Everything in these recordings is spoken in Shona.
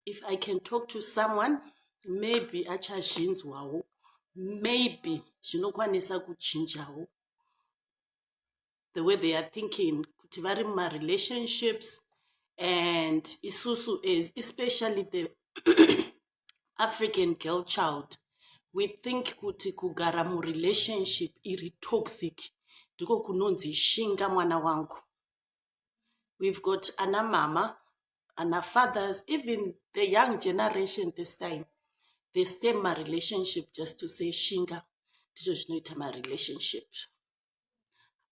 if i can talk to someone maybe achazvinzwawo maybe zvinokwanisa kuchinjawo the way they are thinking kuti vari mumarelationships and isusu as especially the african girl child we think kuti kugara murelationship iri toxic ndiko kunonzi shinga mwana wangu We've got ana mama, ana fathers, even the young generation this time. They stay in my relationship just to say shinga. Ndizvo zvinoita my relationship.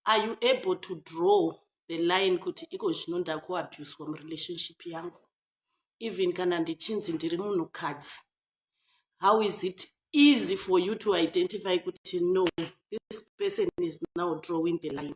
Are you able to draw the line kuti iko zvino ndakuabuswa murelationship yangu? Even kana ndichinzi ndiri munhukadzi. How is it easy for you to identify kuti no, this person is now drawing the line.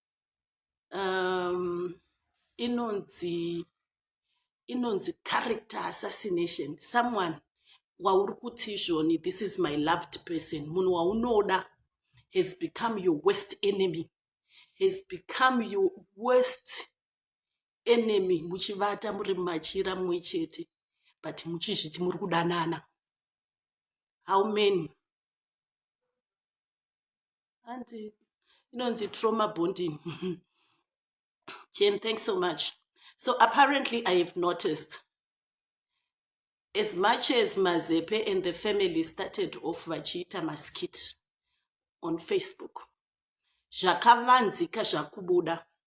um, inonzi inonzi character assassination someone wauri kuti izvoni this is my loved person munhu waunoda has become your worst enemy has become your worst enemy muchivata muri machira mumwe chete but muchizviti muri kudanana how many hanzi inonzi trauma bonding jen thanks so much so apparently i have noticed as much as mazepe and the family started off vachiita maskit on facebook zvakavanzika zvakubuda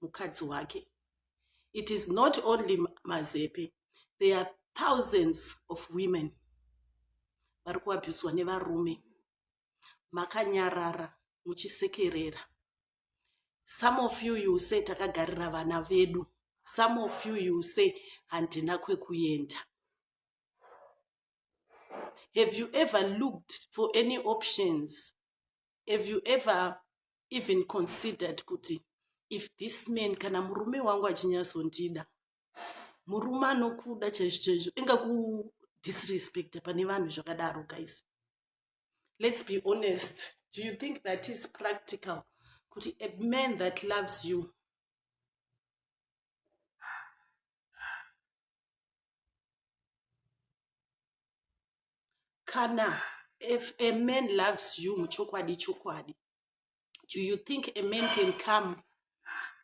mukadzi wake it is not only mazepe there are thousands of women vari kuabhuswa nevarume makanyarara muchisekerera some of you you say takagarira vana vedu some of you you say handina kwekuenda have you ever looked for any options have you ever even considered kuti if this man kana murume wangu achinyazondida murume anokuda chaizvo chaizvo ingakudisrespecta pane vanhu zvakadaro guys let's be honest do you think that is practical kuti a man that loves you kana if a man loves you muchokwadi chokwadi do you think a man can come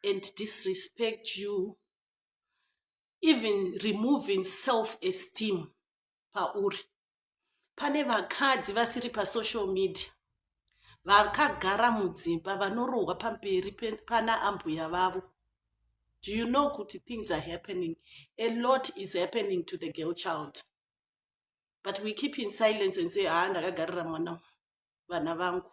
and disrespect you even removing self esteem pauri pane vakadzi vasiri pasocial media vakagara mudzimba vanorohwa pamberi pana ambuya vavo do you know kuti things are happening a lot is happening to the girl child but we keep in silence and say haa ah, ndakagarira mwana vana vangu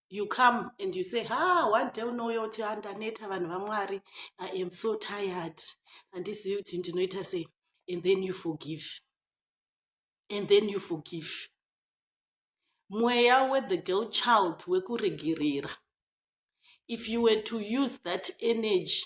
you come and you say ha ah, one day unouya uti andaneta ah, vanhu vamwari i am so tired handizivi kuti ndinoita sei and then you forgive and then you forgive mweya wethe girl child wekuregerera if you were to use that energy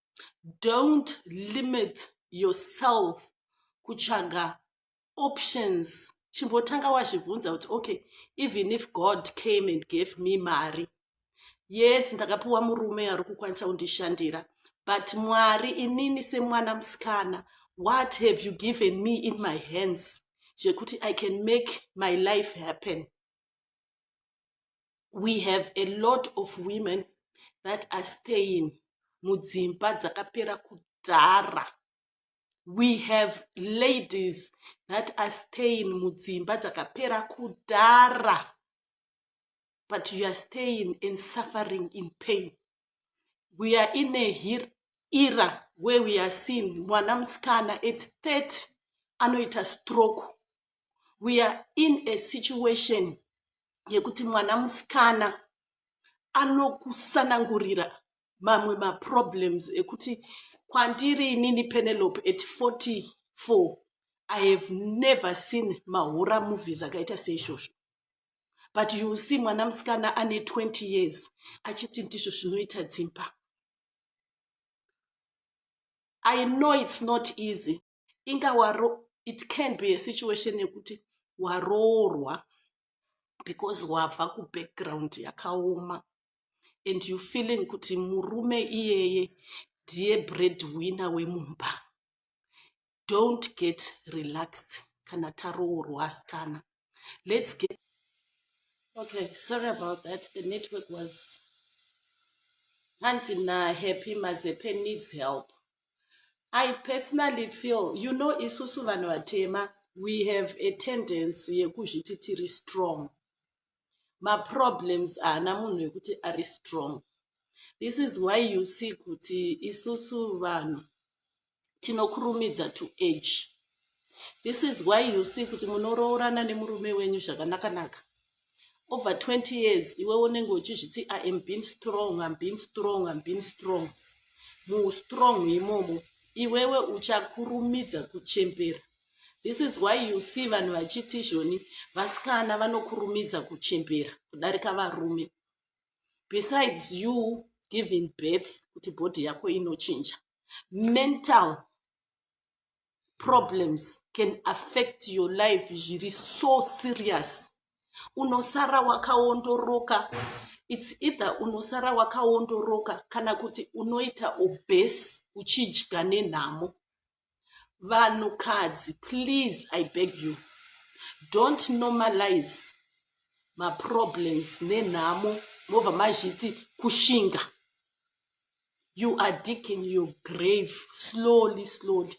don't limit yourself kutsvaga options chimbotanga wazvibvunza kuti okay even if god came and gave me mari yes ndakapiwa murume ari kukwanisa kundishandira but mwari inini semwana musikana what have you given me in my hands zvekuti i can make my life happen we have a lot of women that are staying mudzimba dzakapera kudhara we have ladies that are staying mudzimba dzakapera kudhara but you are staying and suffering in pain we are in a here era where we are seen mwana musikana at 30 anoita stroke we are in a situation yekuti mwana musikana anokusanangurira mamwe maproblems ekuti kwandiri inini penelope at 44 i have never seen mahora movies akaita seizvozvo but you see mwana musikana ane 20 years achiti ndizvo zvinoita dzimba i know its not easy inga waro it can be a situation yekuti waroorwa because wabva kubackground yakaoma and you feeling kuti murume iyeye ndiye breadwinner wemumba don't get relaxed kana taroorwa asikana let's get okay sorry about that the network was hanzi nahappy mazepe needs help i personally feel you know isusu vanhu vatema we have a tendency yekuzviti tiri strong maproblems haana munhu wekuti ari strong this is why you see kuti isusu vanhu tinokurumidza to age this is why you see kuti munoroorana nemurume wenyu zvakanakanaka over 20 years iwe unenge uchizviti i am being strong im being strong im being strong muustrong imomo iwewe uchakurumidza kuchembera this is why you see vanhu vachiti izvoni vasikana vanokurumidza kuchembera kudarika varume besides you giving birth kuti bhodhi yako inochinja mental problems can affect your life zviri so serious unosara wakaondoroka its either unosara wakaondoroka kana kuti unoita obese uchidya nenhamo vanhukadzi please i beg you don't normalize maproblems nenhamo mobva mazviti kushinga you are digging your grave slowly slowly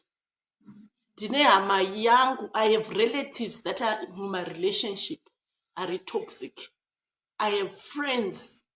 ndine hama yangu i have relatives that are mumarelationship ari toxic i have friends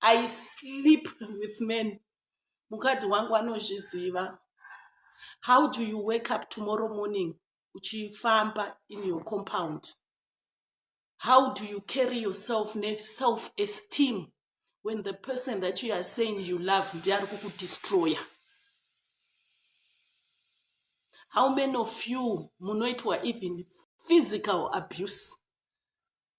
I sleep with men mukadzi wangu anozviziva how do you wake up tomorrow morning uchifamba in your compound how do you carry yourself neself esteem when the person that you are saying you love ndiye ari kukudestroya how many of you munoitwa even physical abuse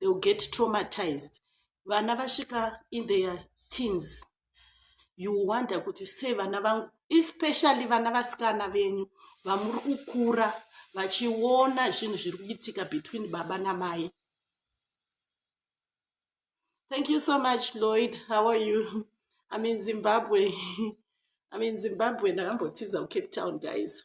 they will get traumatized vana vasvika in their teens you wonder kuti sei vana vangu especially vana vasikana venyu vamuri kukura vachiona zvinhu zviri kuitika between baba namai thank you so much lloyd how are you i'm in zimbabwe i'm in zimbabwe ndakambotiza kucape town guys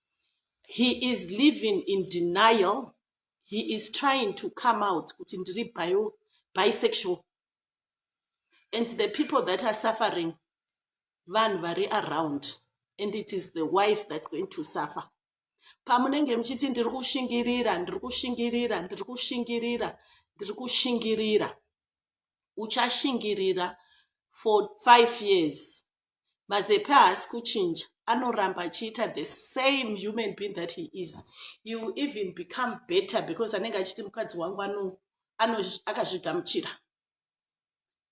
he is living in denial he is trying to come out kuti ndiri bisexual and the people that are suffering vanhu vari around and it is the wife that's going to suffer pamunenge muchiti ndiri kushingirira ndiri kushingirira ndiri kushingirira ndiri kushingirira uchashingirira for five years Mazepe haasi kuchinja anoramba achiita the same human being that he is he will even become better because anenge achiti mukadzi wangu ano akazvigamuchira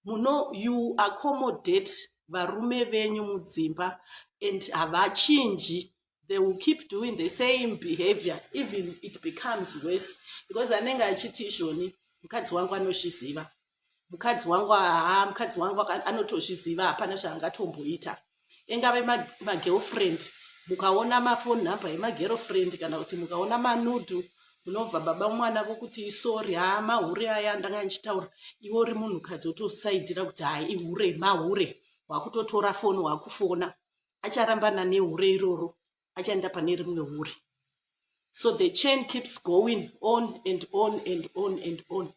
muno you accommodate varume venyu mudzimba and havachinji they will keep doing the same behavior even it becomes worse because anenge achiti izvoni mukadzi wangu anozviziva mukadzi wangu haa mukadzi wangu anotozviziva hapana zvaangatomboita engave magirlfriend ma mukaona mafone number yemagirlfriend kana kuti mukaona manudu munobva baba mwana vokuti isori haa mahure aya ndanga ndichitaura iwe uri munhukadzi wotosaidira kuti hai ihure mahure wakutotora foni wakufona acharambana nehure iroro achaenda pane rimwe hure so the chain keeps going on and on and on and on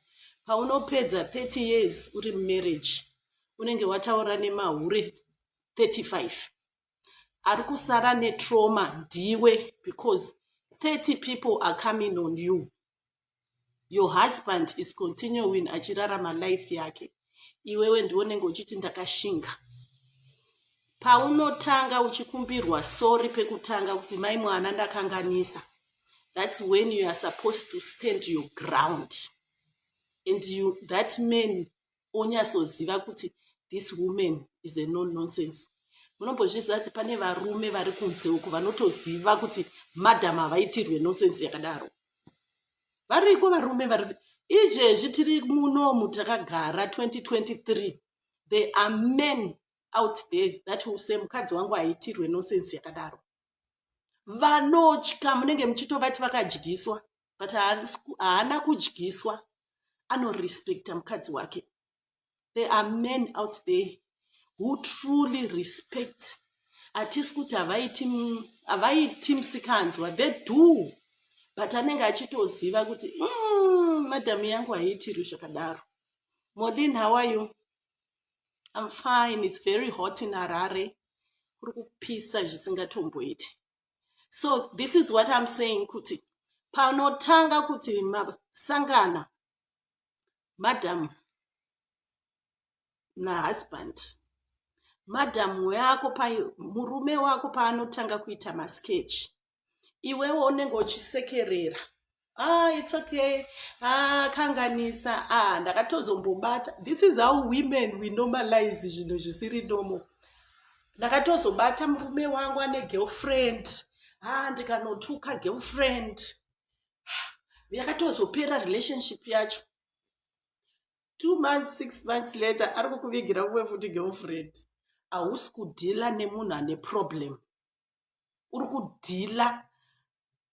paunopedza 30 years uri mumarriage unenge wataura nemahure 35 ari kusara netrauma ndiwe because 30 people are coming on you your husband is continuing achirarama life yake iwewe ndionenge uchiti ndakashinga paunotanga uchikumbirwa sori pekutanga kuti mai mwana ndakanganisa that's when you are supposed to stand your ground and you, that man onyasoziva kuti this woman is a non nonsense munombozviziva kuti pane varume vari kunze uku vanotoziva kuti madam havaitirwe nonsense yakadaro variko varume vari izvezvi tiri munomu takagara 2023 there are men out there that will say mukadzi wangu haitirwe nonsense yakadaro vanotya munenge muchitovati vakadyiswa but haana kudyiswa anorespecta mukadzi wake there are men out there who truly respect hatisi kuti havaiti msikanzwa they do but anenge achitoziva kuti mm, madhamu yangu haiitirwi zvakadaro modin how are you i'm fine it's very hot in harare kuri kupisa zvisingatomboiti so this is what im saying kuti panotanga kuti masangana madam nahusband madam wako murume wako paanotanga kuita masketch iwewo unenge uchisekerera ah it's okay ah kanganisa ah ndakatozombobata this is how women we normalize zvinhu zvisiri normal ndakatozobata murume wangu ane girlfriend ah ndikanotuka girlfriend yakatozopera relationship yacho two months six months later ari kukuvigira kuve futi girlfriend hausi kudhila nemunhu ane problem uri kudhila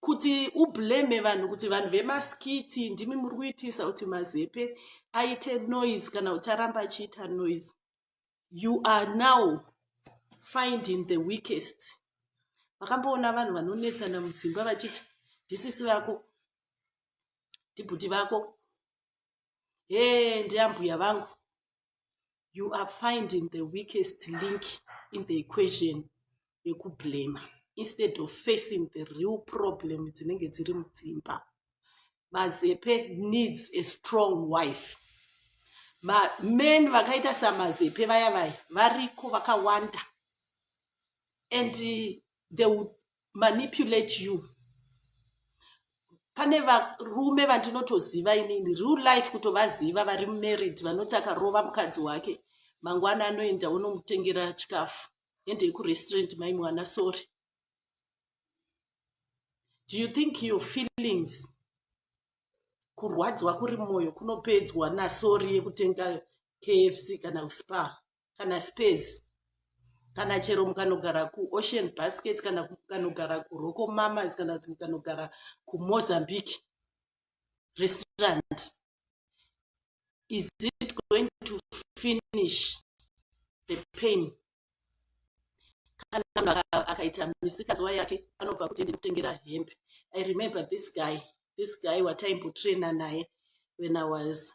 kuti ublame vanhu kuti vanhu vemaskiti ndimi muri kuitisa kuti mazepe aite noise kana ucharamba achiita noise you are now finding the weakest vakamboona vanhu vanonetsana mudzimba vachiti ndisisi vako ndibhuti vako hee ndiambuya vangu you are finding the weakest link in the equation yekublema instead of facing the real problem dzinenge dziri mudzimba mazepe needs a strong wife men vakaita samazepe vaya vaya variko vakawanda and they would manipulate you pane varume vandinotoziva inini real life kutovaziva vari mumerid vanoti akarova mukadzi wake mangwana anoenda onomutengera chikafu endei kurestaurant mai mwana sorry do you think your feelings kurwadziwa kuri mwoyo kunopedzwa nasori yekutenga kfc kana kuspa kana space kana chero mukanogara kuocean basket kana mukanogara kuroko mamas kana kuti mukanogara kumozambique restaurant is it going to finish the pain kana munhu akaita misikazwa yake anobva kuti ndinotengera hembe i remember this guy this guy wataimbotraina naye when i was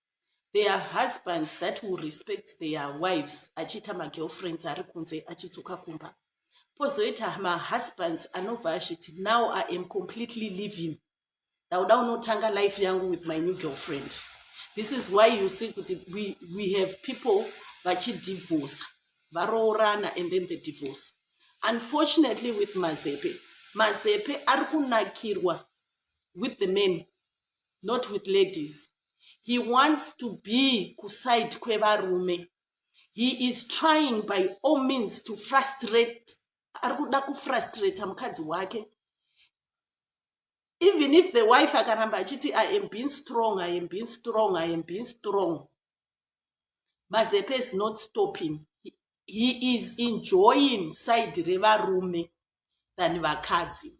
There are husbands that will respect their wives achiita magirlfriends ari kunze achidzoka kumba. Pozoita mahusbands anobva achiti now I am completely living. Ndauda unotanga life yangu with my new girlfriend. This is why you see kuti we, we have people vachidivorce, varoorana and then the divorce. Unfortunately with mazepe, mazepe ari kunakirwa with the men not with ladies he wants to be kuside kwevarume he is trying by all means to frustrate ari kuda kufrustrata mukadzi wake even if the wife akaramba achiti i am being strong i am being strong i am being strong mazepe is not stopping he is enjoying side revarume than vakadzi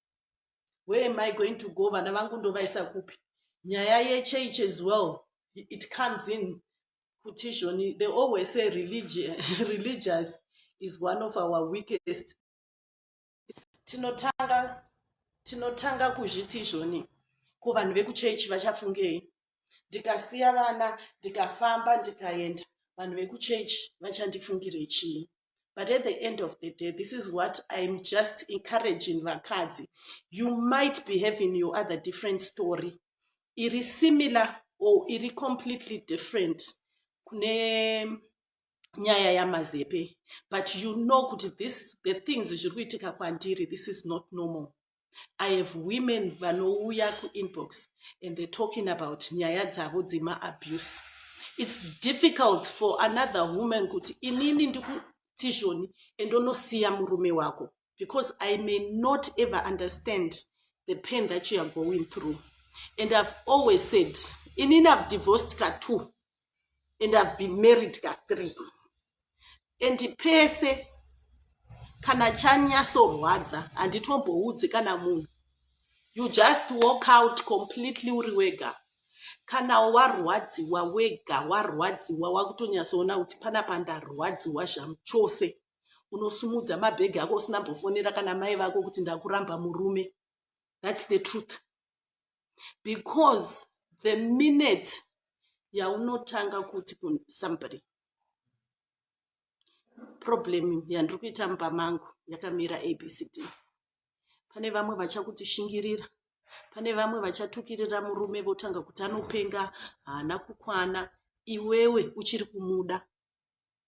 where am i going to go vana vangu ndovaisa kupi nyaya yechurch as well it comes in kutishoni they always say religion, religious is one of our weakest tinotanga tinotanga kuzviti izvoni ko vanhu vekuchechi vachafungei ndikasiya vana ndikafamba ndikaenda vanhu vekuchechi vachandifungirei chii but at the end of the day this is what iam just encouraging vakadzi you might be having your other different story iri similar or iri completely different kune nyaya yamazepe but you know kuti this the things zviri kuitika kwandiri this is not normal I have women vanouya kuinbox and they're talking about nyaya dzavo dzema abuse. It's difficult for another woman kuti inini ndikutizhoni and onosiya murume wako because I may not ever understand the pain that you are going through. And I've always said, inini I've divorced ka two and i've been married ka three and pese kana chanyasorwadza handitomboudzi kana munhu you just walk out completely uri wega kana warwadziwa wega warwadziwa wakutonyasoona kuti pana pandarwadziwa zvamu chose unosumudza mabhegi ako usina mbofonera kana mai vako kuti ndakuramba murume thats the truth because the minute yaunotanga kuti somebody problem yandiri kuita mumba mangu yakamira abcd pane vamwe vachakuti shingirira pane vamwe vachatukirira murume votanga kuti anopenga haana kukwana iwewe uchiri kumuda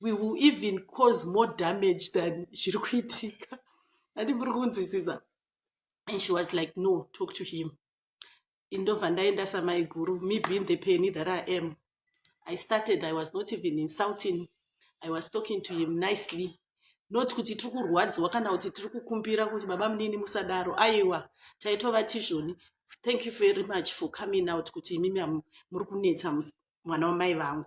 we will even cause more damage than zviri kuitika ati muri kunzwisisa and she was like no talk to him indobva ndaenda samaiguru me being the penny that i am i started i was not even insulting i was talking to him nicely not kuti tiri kurwadziwa kana kuti tiri kukumbira kuti baba munini musadaro aiwa taitova tizvoni thank you very much for coming out kuti imimi muri kunetsa mwana wamai vangu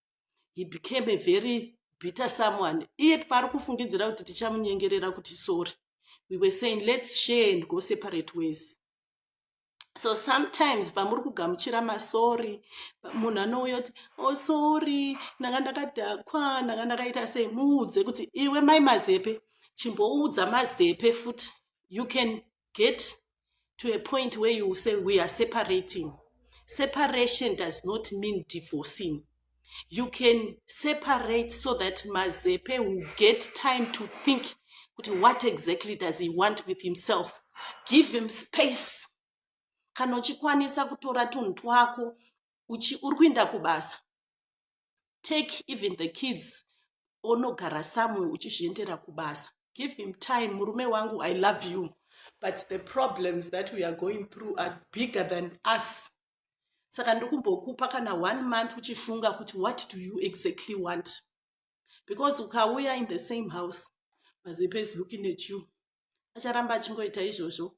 he became a very bitter someone iye paari kufungidzira kuti tichamunyengerera kuti sorry we were saying let's share and go separate ways so sometimes pamuri kugamuchira masori munhu anouya kuti o oh, sori ndanga ndakadhakwa ndanga ndakaita sei muudze kuti iwe mai mazepe chimboudza mazepe futi you can get to a point where you say we are separating separation does not mean divorcing you can separate so that mazepe will get time to think kuti what exactly does he want with himself give him space kana uchikwanisa kutora tunhu twako uri kuinda kubasa take even the kids onogara somewhere uchizviendera kubasa give him time murume wangu i love you but the problems that we are going through are bigger than us saka ndikumbokupa kana one month uchifunga kuti what do you exactly want because ukauya in the same house mazepe is looking at you acharamba achingoita izvozvo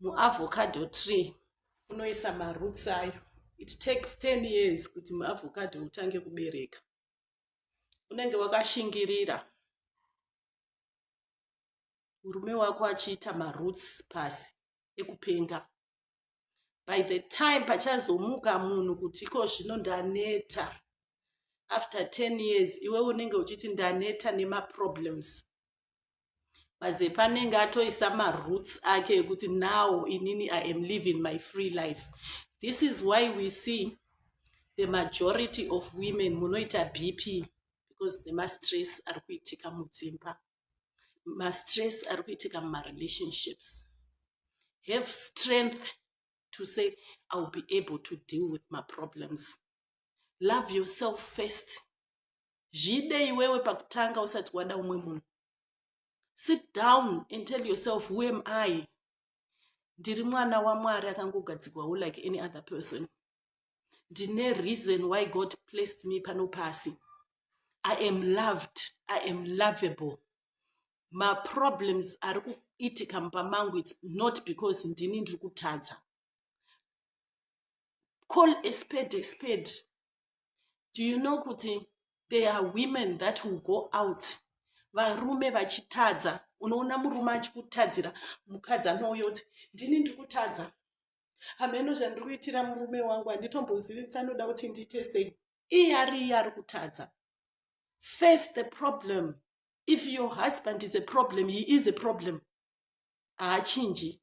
muavocado tree unoisa maroots ayo it takes 10 years kuti muavocado utange kubereka unenge wakashingirira murume wako achiita maroots pasi ekupenga by the time pachazomuka munhu kuti iko zvino ndaneta after 10 years iwe unenge uchiti ndaneta nemaproblems mazepa anenge atoisa maroots ake ekuti now inini i am living my free life this is why we see the majority of women munoita bp because nemastress ari kuitika mudzimba mastress ari kuitika mumarelationships have strength to say iwill be able to deal with maproblems love yourself first zviide iwewe pakutanga usati wada umwe munhu sit down and tell yourself who am i ndiri mwana wamwari akangogadzigwawo like any other person ndine reason why god placed me pano pasi i am loved i am lovable maproblems ari kuitika mumba mangu its not because ndini ndiri kutadza call a spade a spade do you know kuti there are women that will go out varume vachitadza unoona murume achikutadzira mukadzi anouya kuti ndini ndiri kutadza hameno zvandiri kuitira murume wangu handitombozivi kuti anoda kuti ndiite sei iye ari iye ari kutadza face the problem if your husband is a problem he is a problem haachinji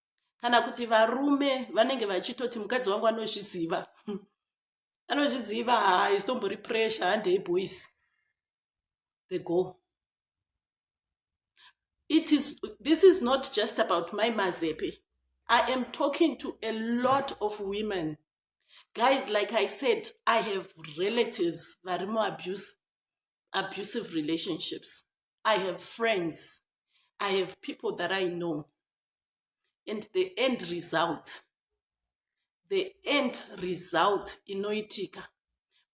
kana kuti varume vanenge vachitoti mukadzi wangu anozviziva anozviziva haisitombori pressure handei boys the go it is this is not just about my mazepe i am talking to a lot of women guys like i said i have relatives vari muabuse abusive relationships i have friends i have people that i know and the end result the end result inoitika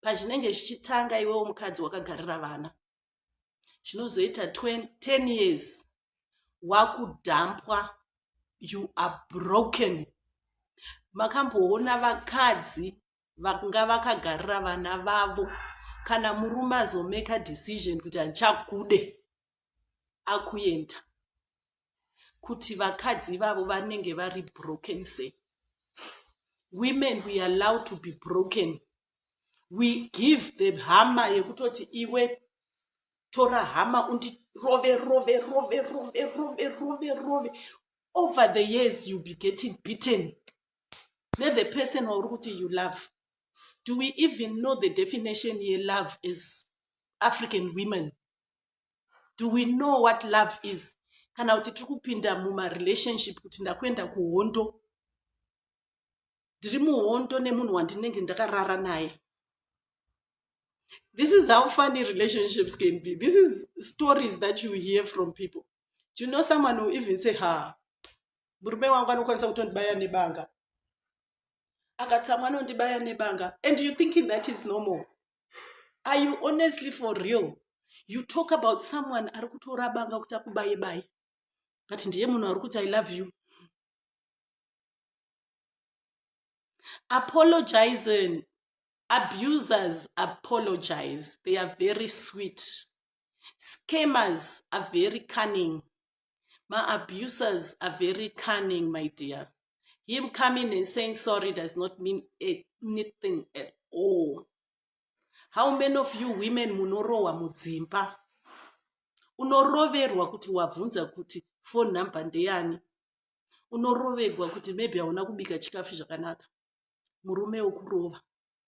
pazvinenge zvichitanga iwewo mukadzi wakagarira vana zvinozoita 10 years wakudhampwa you are broken makamboona vakadzi vanga vakagarira vana vavo kana murume azomeka decision kuti handichakude akuenda kuti vakadzi ivavo vanenge vari broken se women we allow to be broken we give the hama yekutoti iwe tora hama undirove rove rove rove rove rove rove over the years youll be getting beaten nethe person wauri kuti you love do we even know the definition yelove as african women do we know what love is kana kuti tiri kupinda mumarelationship kuti ndakuenda kuhondo ndiri muhondo nemunhu wandinenge ndakarara naye this is how funny relationships can be this is stories that you hear from people do you know someone who even say ha murume wangu anokwanisa kutondibaya nebanga akatsamwa anondibaya nebanga and you thinking that is normal are you honestly for real you talk about someone ari kutora banga kuti akubaye baye but ndiye munhu ari kuti i love you apologizing abusers apologize they are very sweet scammers are very cunning Maabusers are very cunning, my dear. Him coming and saying sorry does not mean anything at all. How many of you women munorowa mudzimba? Unoroverwa kuti wabvunza kuti phone number ndeyani? Unoroverwa kuti maybe hauna kubika chikafu zvakanaka. Murume wokurova.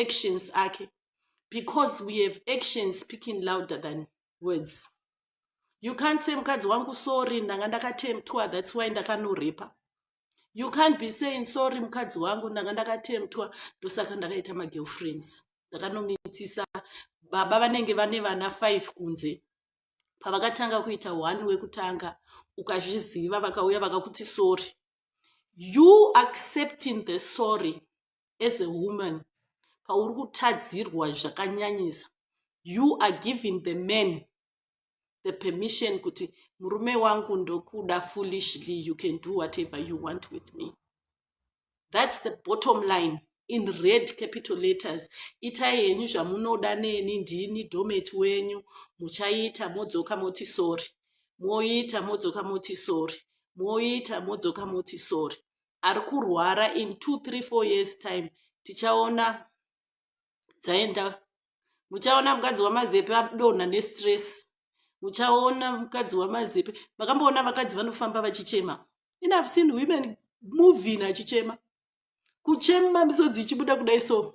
actions ake because we have actions speaking louder than words you can't say mukadzi wangu sorry ndanga ndakatemtwa that's why ndakanorepa you can't be saying sorry mukadzi wangu ndanga ndakatemtwa ndosaka ndakaita magirlfriends ndakanomitisa baba vanenge vane vana five kunze pavakatanga kuita one wekutanga ukazviziva vakauya vakakuti sorry you accepting the sorry as a woman pauri kutadzirwa zvakanyanyisa you are giving the man the permission kuti murume wangu ndokuda foolishly you can do whatever you want with me that's the bottom line in red capital letters itai henyu zvamunoda neni ndini domet wenyu muchaita modzoka moti sori moita modzoka moti sori moita modzoka moti sori ari kurwara in two three four years time tichaona dzaenda muchaona mukadzi wamazepe adonha nestress muchaona mukadzi wamazepe makamboona vakadzi vanofamba vachichema in have seen women movin achichema kuchema misodzi ichibuda kudai so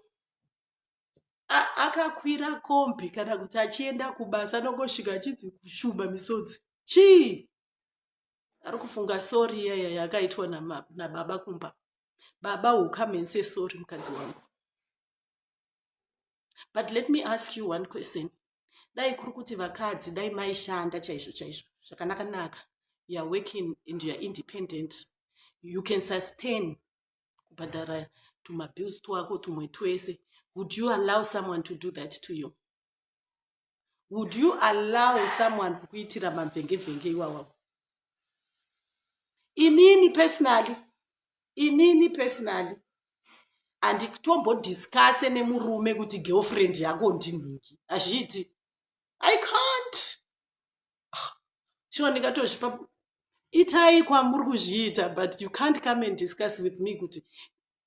akakwira kombi kana kuti achienda kubasa anongosvika achinzi kushumba misodzi chii ari kufunga sori iyaya yakaitwa nababa kumba baba will come and say sorry mukadzi wangu but let me ask you one question dai kuri kuti vakadzi dai maishanda chaizvo chaizvo zvakanaka naka youare working and youare independent you can sustain kubhadhara tumabills twako tumwe twese would you allow someone to do that to you would you allow someone kukuitira mavhengevhenge iwawa inini personally inini personally handitombodiscase nemurume kuti girlfriend yako ndinhingi hazviiti i can't ah, shuwa ndingatozvipa itai kwamuri kuzviita but you can't come and discuss with me kuti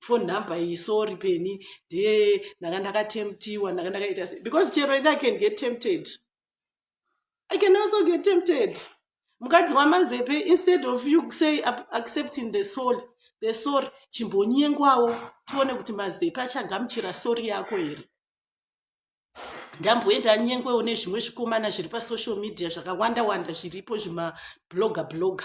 phone number iyi sorry peni de ndanga ndakatemptiwa ndanga ndakaita se because chero ini i can get tempted i can also get tempted mukadzi wamazepe instead of you say accepting the soul the soul chimbonyengwawo tione kuti mazepe achagamuchira sori yako here ndamboenda nyengwewo nezvimwe zvikomana zviri pasocial media zvakawanda wanda zviripo zvimabloga bloga, bloga.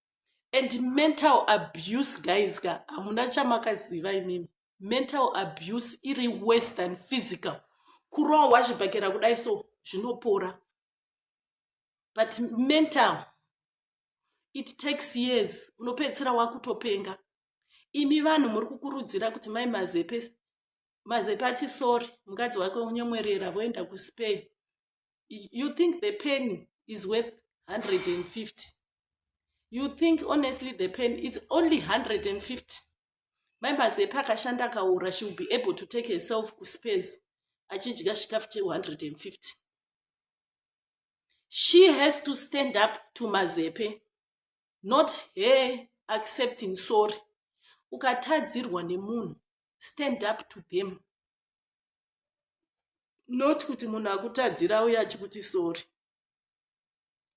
and mental abuse guys ka hamuna chamakaziva imimi mental abuse iri worse than physical kurowa wazvibhakera kudai so zvinopora but mental it takes years unopedzisira wakutopenga imi vanhu muri kukurudzira kuti mai mazepe mazepe ati sori mukadzi wake unyemwerera voenda kuspay you think the pen is worth 150 you think honestly the pen it's only 150 mai mazepa akashanda akaura she will be able to take herself kuspace achidya chikafu che 150 she has to stand up to mazepe not her accepting sorry ukatadzirwa nemunhu stand up to them not kuti munhu akutadzira auye achikuti sori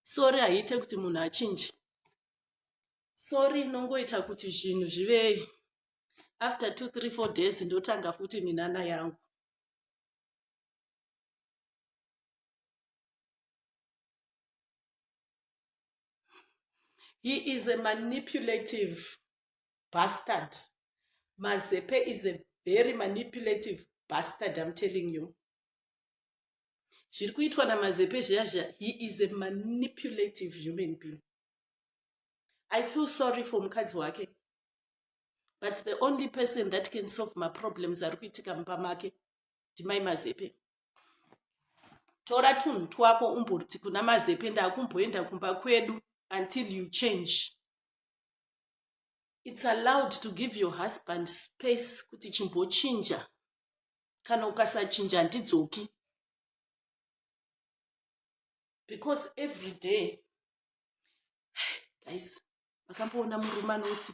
sori haiite kuti munhu achinje sori inongoita kuti zvinhu zvive after two three four days ndotanga futi minana yangu he is a manipulative bastard mazepe is a very manipulative bastard im telling you zviri kuitwa namazepe zviya zviya he is a manipulative human being i feel sorry for mukadzi wake but the only person that can solve maproblems ari kuitika mumba make ndimai mazepe tora tunhu twako umborti kuna mazepe ndakumboenda kumba kwedu until you change its allowed to give your husband space kuti chimbochinja kana ukasachinja handidzoki because every day guys makamboona murume anoti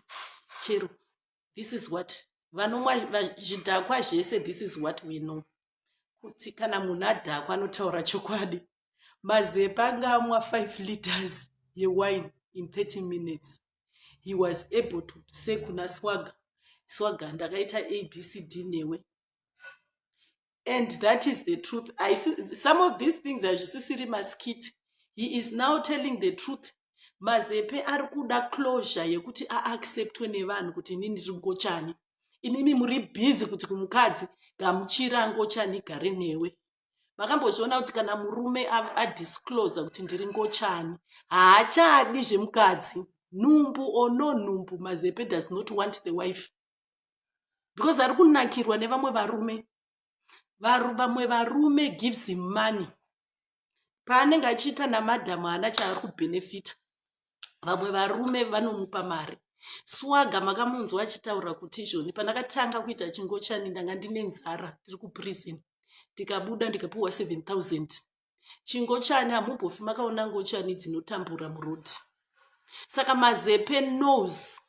chero this is what vanomwa zvidhakwa zvese this is what we know kuti kana munhu adhakwa anotaura chokwadi mazepa anga amwa 5 liters yewine in 30 minutes he was able to say kuna swaga swaga ndakaita abcd newe and that is the truth I see, some of these things hazvisisiri maskit he is now telling the truth mazepe ari kuda closure yekuti aacceptwe nevanhu kuti ini ndiri ngochani imimi muri busy kuti kumukadzi gamuchira ngochani gare newe makambozviona kuti kana murume adisclose kuti ndiri ngochani haachadi zvemukadzi nhumbu or no nhumbu mazepe does not want the wife because ari kunakirwa nevamwe varume vamwe varume gives him money paanenge achiita namadhamu haana chaari kubhenefita vamwe varume vanomupa mari swaga makamunzwa achitaura kuti izvoni pandakatanga kuita chingochani ndanga ndine nzara tiri kuprison ndikabuda ndikapiwa 7000 chingochani hamumbofi makaona ngochani dzinotambura muroad saka mazepe knows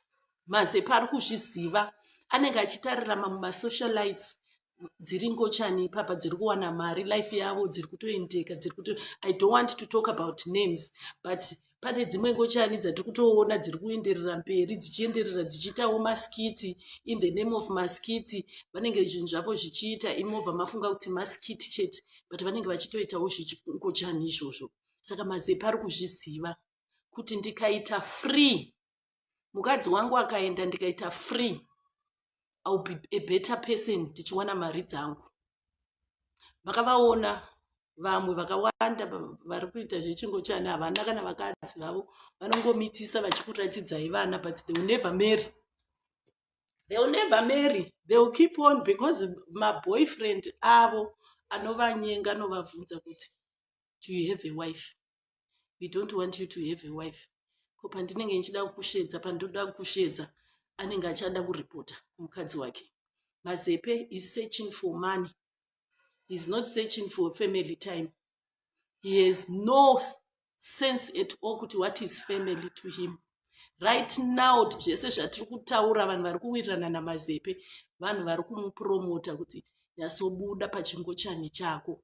mazepe ari kuzviziva anenge achitarira mamwe masocialites dziri ngochani ipapa dziri kuwana mari life yavo dziri kutoendeka dziri kuto i don't want to talk about names but pane dzimwe ngochani dzatiri kutoona dziri kuenderera mberi dzichienderera dzichiitawo maskiti in the name of maskiti vanenge zvinhu zvavo zvichiita imova mafunga kuti maskiti chete but vanenge vachitoitawo zvingochani izvozvo saka mazepa ari kuzviziva kuti ndikaita free mukadzi wangu akaenda ndikaita free iwill be a better person ndichiwana mari dzangu makavaona vamwe vakawanda vari kuita zvechingo chani havana kana vakadzi vavo vanongomitisa vachikuratidzai vana but they will never marry they will never marry they will keep on because maboyfriend avo anovanyenga anovabvunza kuti do you have a wife we don't want you to have a wife ko pandinenge ndichida kukushedza pandinoda kukushedza anenge achada kuripota kumukadzi wake mazepe is searching for money is not searching for family time he has no sense at all kuti what is family to him right now zvese zvatiri kutaura vanhu vari kuwirirana namazepe vanhu vari kumupromota kuti nyasobuda pachingochani chako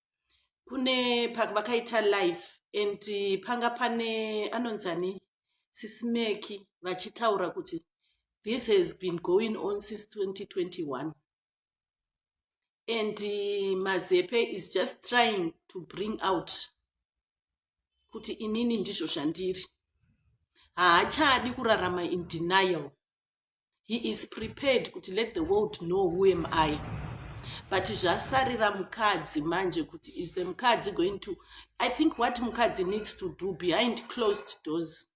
kune vakaita live and panga pane anonzi ani sisimeki vachitaura kuti this has been going on since 2021 and mazepe is just trying to bring out kuti inini ndizvo zvandiri haachadi kurarama in denial he is prepared kuti let the world know who am i but zvasarira mukadzi manje kuti is the mukadzi going to i think what mukadzi needs to do behind closed doors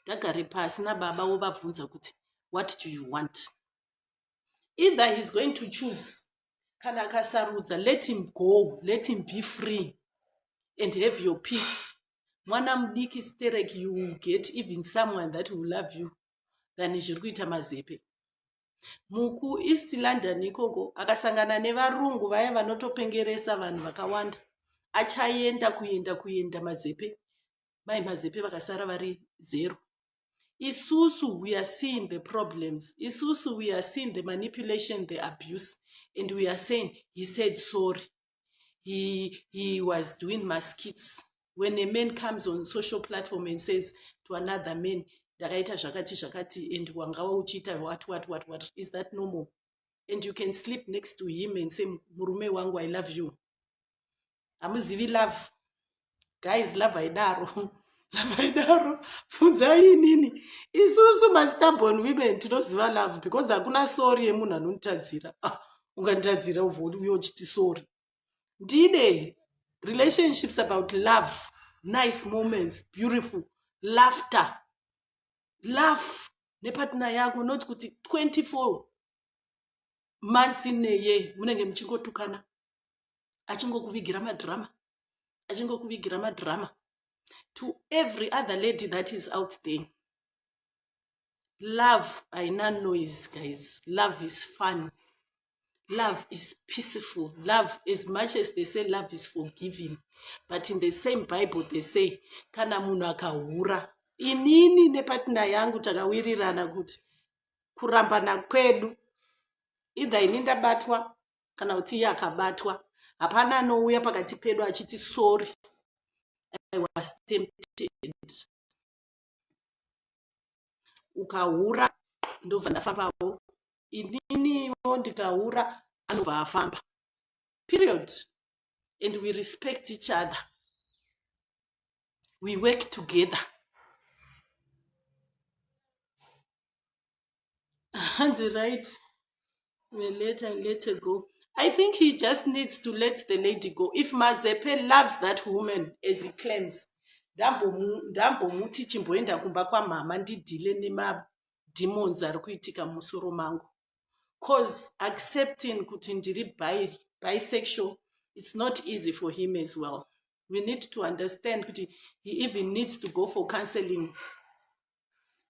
ndagare pasi nababa wovabvunza kuti what do you want either he's going to choose kana akasarudza let him go let him be free and have your peace mwana mudiki sterek you will get even someone that will love you than zviri kuita mazepe muku east london ikoko akasangana nevarungu vaya vanotopengeresa vanhu vakawanda achaenda kuenda kuenda mazepe mai mazepe vakasara vari zero isusu we are seeing the problems isusu we are seeing the manipulation the abuse and we are saying he said sorry he, he was doing maskits when a man comes on social platform and says to another man ndakaita zvakati zvakati and wangava uchiita what what what what is that normal and you can sleep next to him and say murume wangu i love you hamuzivi love guys lavai daro lavai daro funzai inini isusu mastabon women tinoziva love because hakuna sori yemunhu anonitadzira ah, unganditadzira uvouya uchiti sori ndine relationships about love nice moments beautiful laughter laugh nepatna yako not kuti 24 months in a year munenge muchingotukana achingokuvigira madrama achingokuvigira madrama to every other lady that is out there love haina noise guys love is fun love is peaceful love as much as they say love is forgiving but in the same bible they say kana munhu akahura inini nepatina yangu takawirirana kuti kurambana kwedu idha ini ndabatwa kana kuti iye akabatwa hapana anouya pakati pedu achiti sorry i was tempted ukahura ndobva ndafambawo ininiwo ndikahura anobva afamba period and we respect each other we work together hanzi right the letter and let her go i think he just needs to let the lady go if mazepe loves that woman as he claims ndambomuti chimboenda kumba kwamhama ndidhile nemademons ari kuitika musoro mangu cause accepting kuti ndiri bi bisexual it's not easy for him as well we need to understand kuti he even needs to go for counseling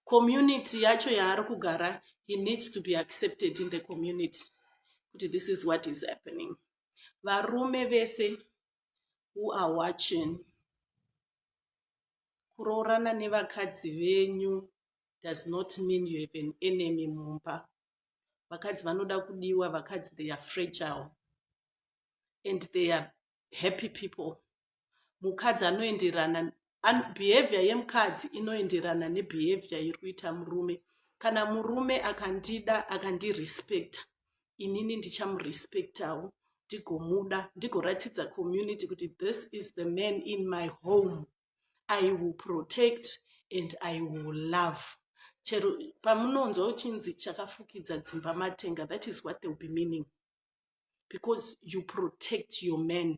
community yacho yaari kugara he needs to be accepted in the community kuti this is what is happening varume vese who are watching kuroorana nevakadzi venyu does not mean you have an enemy mumba vakadzi vanoda kudiwa vakadzi they are fragile and they are happy people mukadzi anoenderana behavior yemukadzi inoenderana nebehavior iri kuita murume kana murume akandida akandirespecta inini ndichamurespectawo ndigomuda ndigoratidza community kuti this is the man in my home i will protect and i will love chero pamunonzwa uchinzi chakafukidza dzimba matenga that is what they will be meaning because you protect your man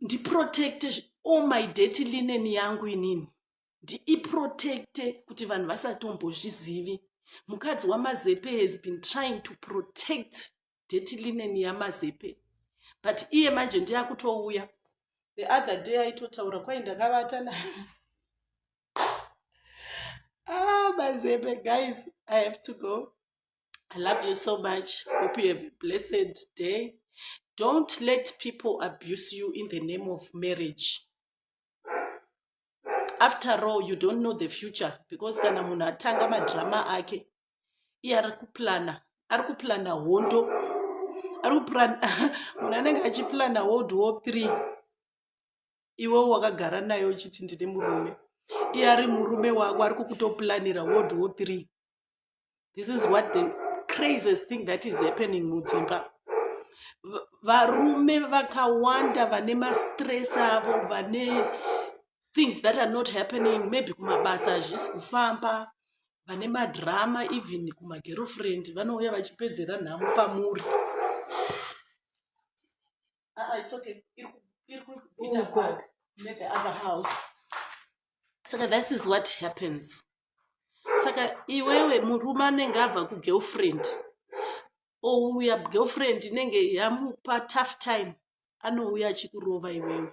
ndiprotecte all oh my dirty linen yangu inini ndiiprotecte kuti vanhu vasatombozvizivi mukadzi wamazepe has been trying to protect dirty linen yamazepe but iye manje ndiye akutouya the other day aitotaura kwai ndakavata na ah mazepe guys i have to go I love you so much. Hope you have a blessed day. Don't let people abuse you in the name of marriage. After all, you don't know the future because kana munhu atanga madrama ake iye ari kuplana ari kuplana hondo ari kuplana munhu anenge achiplana world war three iwe wakagara nayo uchiti ndine murume iye ari murume wako ari kukutoplanira world war three this is what the craziest thing that is happening mudzimba varume vakawanda vane mastress avo vane things that are not happening maybe kumabasa hazvisi kufamba vane madrama even kumagirlfriend vanouya vachipedzera nhamo pamuri Ah, ah, it's okay. Iri ku- iri kuita Uko. bag never other house. Saka this is what happens. Saka iwewe murume anenge abva kugirlfriend ouya girlfriend inenge yamupa tough time anouya achikurova iwewe.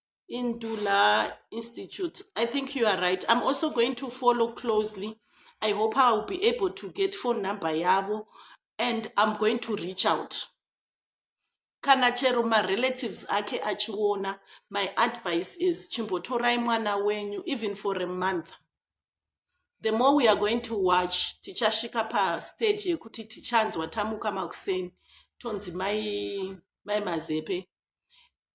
into la institute i think you are right i'm also going to follow closely i hope i will be able to get phone number yavo and i'm going to reach out kana chero marelatives ake achiona my advice is chimbotorai mwana wenyu even for a month the more we are going to watch tichasvika pastage yekuti tichanzwa tamuka makuseni tonzi mai mai mazepe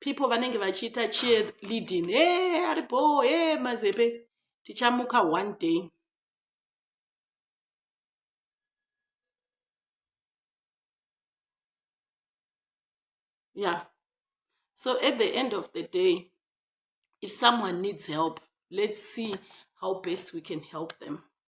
people vanenge vachiita cheer leading e eh, aripo e eh, mazepe tichamuka one day yeah so at the end of the day if someone needs help let's see how best we can help them